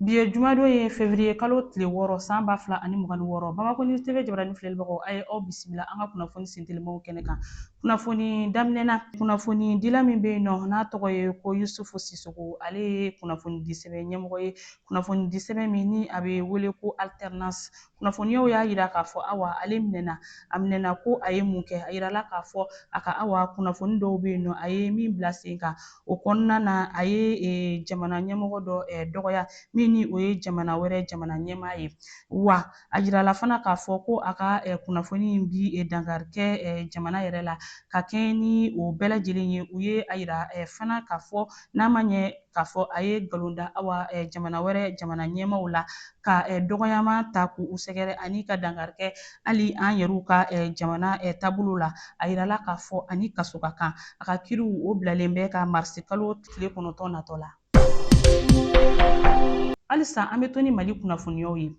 Bi ye jumadon ye fevriye kalo tile wɔɔrɔ san ba fila ani mugan ni wɔɔrɔ Bamakɔ News TV jabarani filɛlibagaw a ye aw bisimila an ka kunnafoni sentelimaw kɛnɛ kan kunnafoni daminɛ na kunnafonidila min bɛ yen nɔ n'a tɔgɔ ye ko Yusufu Sisoko ale ye kunnafonidisɛbɛn ɲɛmɔgɔ ye kunnafonidisɛbɛn min ni a bɛ wele ko alternance Kunnafoniyaw y'a yira k'a fɔ awa ale minɛna a minɛna ko a ye mun kɛ a yirala k'a fɔ a ka awa kunnafoni dɔw bɛ yen nɔ a ye min bila sen kan o kɔnɔna na a ye e, jamana ɲɛmɔgɔ dɔ e, dɔgɔya min ni o ye jamana wɛrɛ jamana ɲɛmaa ye wa a yirala fana k'a fɔ ko a ka e, kunnafoni in bi e, dankari kɛ jamana yɛrɛ la ka kɛɲɛ ni o bɛɛ lajɛlen ye u ye a yira fana k'a fɔ n'a ma ɲɛ k'a fɔ a ye nkalon da awa jamana wɛrɛ jamana ɲɛmaw la ka dɔgɔyama ta k'u sɛgɛrɛ ani ka dankari kɛ hali an yɛrɛw ka jamana taabolo la a yirala k'a fɔ a ni kaso ka kan a ka kiriw o bilalen bɛ ka marisi kalo tile kɔnɔntɔn natɔ la halisa an bɛ to ni mali kunnafoniyaw ye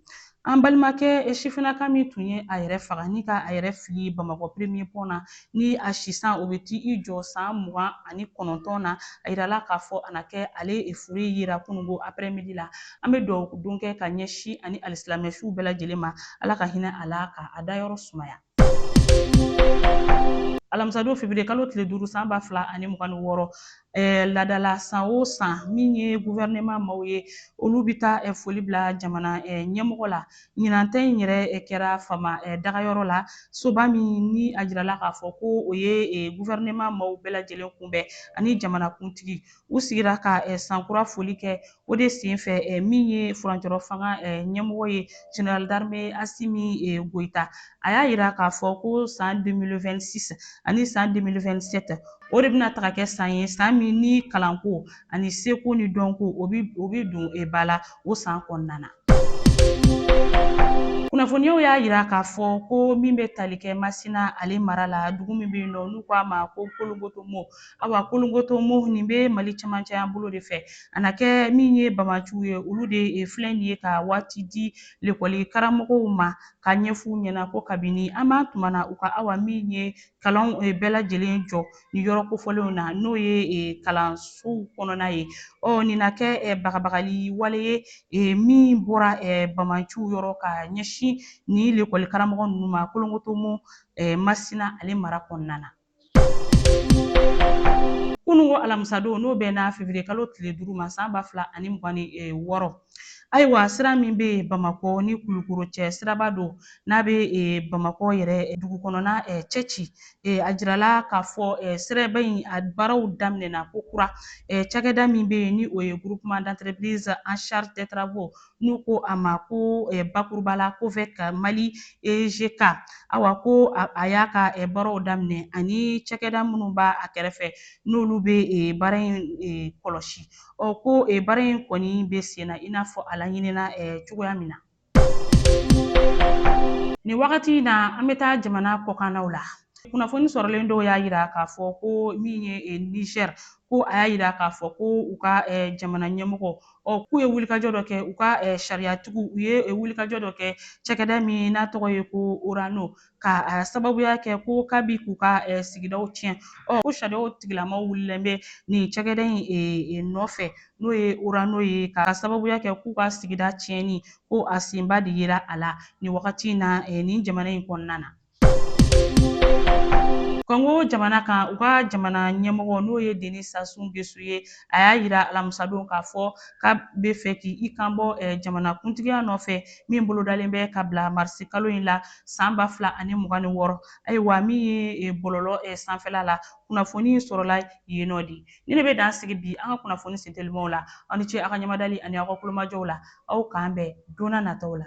An balimakɛ e sifinaka min tun ye a yɛrɛ faga ni ka a yɛrɛ fili Bamakɔ premier pont na ni a si san o bɛ t'i jɔ san mugan ani kɔnɔntɔn na, a yirala k'a fɔ a na kɛ ale e fure yera kunungo après midi la. An bɛ duwawu don kɛ ka ɲɛsin a ni alisilamɛ suw bɛɛ lajɛlen ma Ala ka hinɛ a la ka a dayɔrɔ sumaya. alamisadon fevriye kalo tile duuru san ba fila ani mugan ni wɔɔrɔ eh, laada la san o san min ye guvɛrɛnɛma maw ye olu bɛ taa eh, foli bila jamana eh, ɲɛmɔgɔ la ɲinan ta in yɛrɛ eh, kɛra faama eh, dagayɔrɔ la soba min ni a jirala k'a fɔ ko o ye eh, guvɛrɛnɛma maw bɛɛ lajɛlen kunbɛn ani jamanakuntigi u sigira ka eh, sankura foli kɛ O de senfɛ eh, min ye furancɛrɔ fanga eh, ɲɛmɔgɔ ye General d'armée Asimi eh, Goita a y'a jira k'a fɔ ko san 2026 ani san 2027 o de bɛna taga kɛ san ye san min ni kalanko ani seko ni dɔnko o bɛ don ba la o san kɔnɔna na. Kunnafoniyaw y'a jira k'a fɔ ko min bɛ tali kɛ Masina ale mara la dugu min bɛ yen nɔ n'u k'a ma ko Kolongotomo awa kolongotomo nin bɛ mali cɛmancɛya bolo de fɛ a na kɛ min ye banbaanciw ye olu de filɛ nin ye ka waati di lekɔli karamɔgɔw ma k'a ɲɛfɔ u ɲɛna ko kabini an b'an tuma na u ka awa min ye kalanw bɛɛ lajɛlen jɔ ni yɔrɔ kofɔlenw na n'o ye kalansow kɔnɔna ye ɔ nin na kɛ bagabagali wale ye min bɔra banbaanciw yɔrɔ ka ɲɛsin ni lekɔli karamɔgɔ ninnu ma kolongotomo masina ale mara kɔnɔna na kununko alamisadon n'o bɛnna fevriye kalo tile duuru ma san ba fila ani mugan ni e, wɔɔrɔ ayiwa sira min bɛ bamakɔ ni kulukoro cɛ siraba don n'a bɛ e, bamakɔ yɛrɛ e, dugu kɔnɔna cɛci a jirala k'a fɔ siraba in a baaraw daminɛna kokura cakɛda min bɛ yen ni o ye groupement d'entreprise en charge des travaux n'u ko a ma ko bakuruba la COVEC Mali EGK awa ko a y'a ka baaraw daminɛ ani cakɛda minnu b'a a kɛrɛfɛ n'olu bɛ baara in kɔlɔsi ɔ ko baara in kɔni bɛ sen na i n'a fɔ a laɲinina cogoya min na. Nin wagati in na an bɛ taa jamana kɔkannaw la. Kunnafoni sɔrɔlen dɔw y'a jira k'a fɔ ko min ye Niger ko a y'a jira k'a fɔ ko u ka jamana ɲɛmɔgɔ ɔ k'u ye wulikajɔ dɔ kɛ u ka sariyatigiw u ye wulikajɔ dɔ kɛ cɛkɛda min n'a tɔgɔ ye ko orano ka sababuya kɛ ko k'a bi k'u ka sigidaw tiɲɛ ɔ ko sariyaw tigilamaw wulilen bɛ nin cɛkɛda in nɔfɛ n'o ye orano ye ka sababuya kɛ k'u ka sigida tiɲɛni ko a senba de yera a la nin wagati in na nin jamana in kɔnɔna na Congo jamana kan u ka jamana ɲɛmɔgɔ n'o ye Denis Sassou Nguesso ye a y'a jira alamisadon k'a fɔ k'a bɛ fɛ k'i kanbɔ eh, jamana kuntigiya nɔfɛ min bolodalen bɛ ka bila marisi kalo in la san ba fila ani mugan ni wɔɔrɔ ayiwa min ye eh, bɔlɔlɔ eh, sanfɛla la kunnafoni in sɔrɔla yen nɔ de ni ne bɛ dan sigi bi an ka kunnafoni sentelimaw la aw ni ce aw ka ɲamadali ani aw ka kulomajɔw la aw k'an bɛn donna nataw la